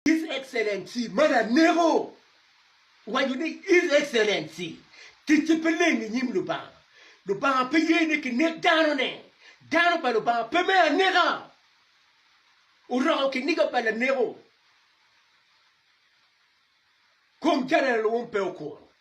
His Excellency man aneko waco ni His Excellency ticce pe leng i nyim Lubanga. Lubanga pe ye ni kinek dano ne. Dano pa Lubanga pe me aneka. Oroko kiniga pa laneko. Kom General wong pe okuro.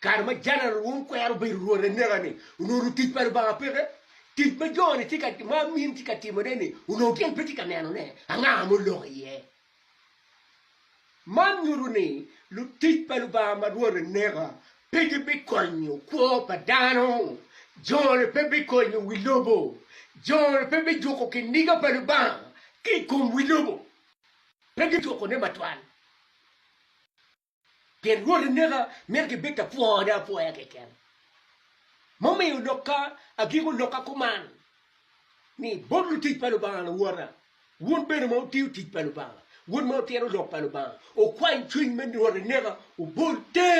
Kare ma Jeneral Wong kwero bedo Rwot aneka-ni, onongo tic pa Lubanga peke. Tic ma jo-ni tye ka, ma amin tye ka timone-ni, onongo gin pe tye ka nenone. Anga ma oloko iye? Man nyuto ni lutic pa Lubanga ma Rwot aneka pe gibikonyo kwo pa dano. Jo-ni pe bikonyo wi lobo. Jo-ni pe bijuko kiniga pa Lubanga ki i kom wi lobo. Pe gijukone matwal. Pien Rwot oneka, mito gibed ka pwone apwoya keken. Mumiyo lokka agiko lokka kuman ni, Bot lutic pa Lubanga luwota, wun bene ma wutiyo tic pa Lubanga, wun ma wutito lok pa Lubanga, wukwany cwiny me Rwot oneka, wubol te!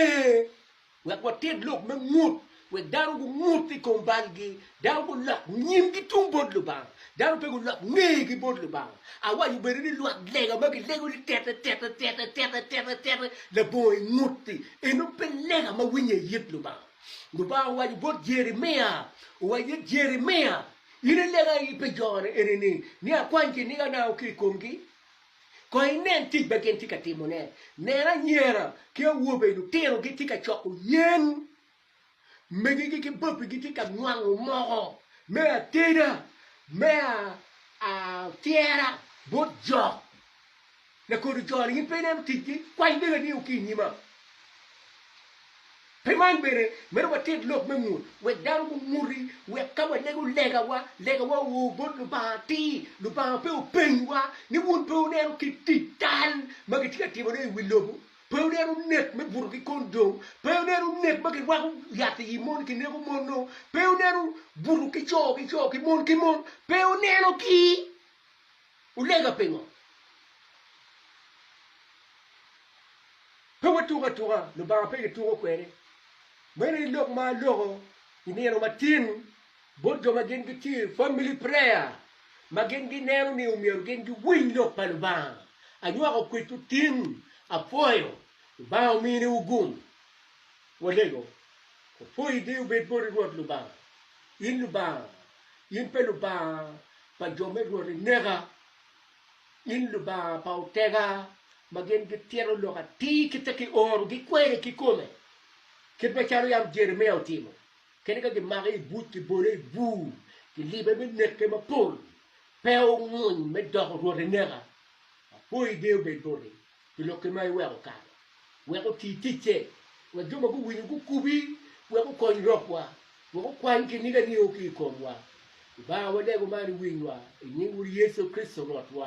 Wek wated lok me ngut, wek dano gungut i kom balgi, dano gulok nyimgi tung bot Lubanga, dano pe gulok ngegi bot Lubanga. Awaco bene ni lwak lega ma gilego ni tete, tete, tete, tete, tete, tete, labongo i ngut-ti, eno pe lega ma winye i it Lubanga. Lubanga owaco bot Jeremia, owaco ni, Jeremia, in ilega aye pi jona enini, ni akwany kiniga nango ki i komgi? Kong inen tic ma gin tye ka timone. Nen anyira ki awobe, lutino gitye ka coko yen, megigi ki bapi gitye ka nwango moko me ateda, me atyera bot jo. Lakodo jo-ni gin pe ineno ticgi? Kwany degani o ki i nyima. Pi man bene, myero watit lok me mut wek dano gumuti, wek ka walego legawa, legawa oo bot Lubanga atir, Lubanga pe openywa ni wun pe wuneno kit tic tal ma kitye ka timone i wi lobo, pe wuneno nek me buto ki kondom, pe wuneno nek ma kirwako yat i mon kineko mon-nu, pe wuneno buto ki co ki co ki mon ki mon, pe wunenogi. Wulega pingo? Pe watuko atuka, Lubanga pe kituko kwede. Meno aye lok ma aloko i nino matin bot jo ma gin gitye i Family Prayer, ma gin gineno ni omyero gin giwiny lok pa Lubanga. Anywako kwedwu tin, apwoyo. Lubanga omi niwu gum. Walego. Opwoyi di obed boti Rwot Lubanga. In Lubanga, in pe Lubanga pa jo me Rwot ineka, in Lubanga pa otega, ma gin gitito lok atir kite ki oro, gikwere kikome, kit macalo yam Jeremia otimo, kadi ka gimake i buc, gibole i bur, gilibe me neke mapol, pe onguny me doko Rwot ineka. Apoyi beo bed boti. pi lokki ma iweko kare wek oti ticce, wek jo ma guwinyo gukubi wek gukony rokwa, wek okwany kiniga nio ki i komwa. Lubanga, walego man i winywa i nying Wod Yecu Kricito Rwotwa.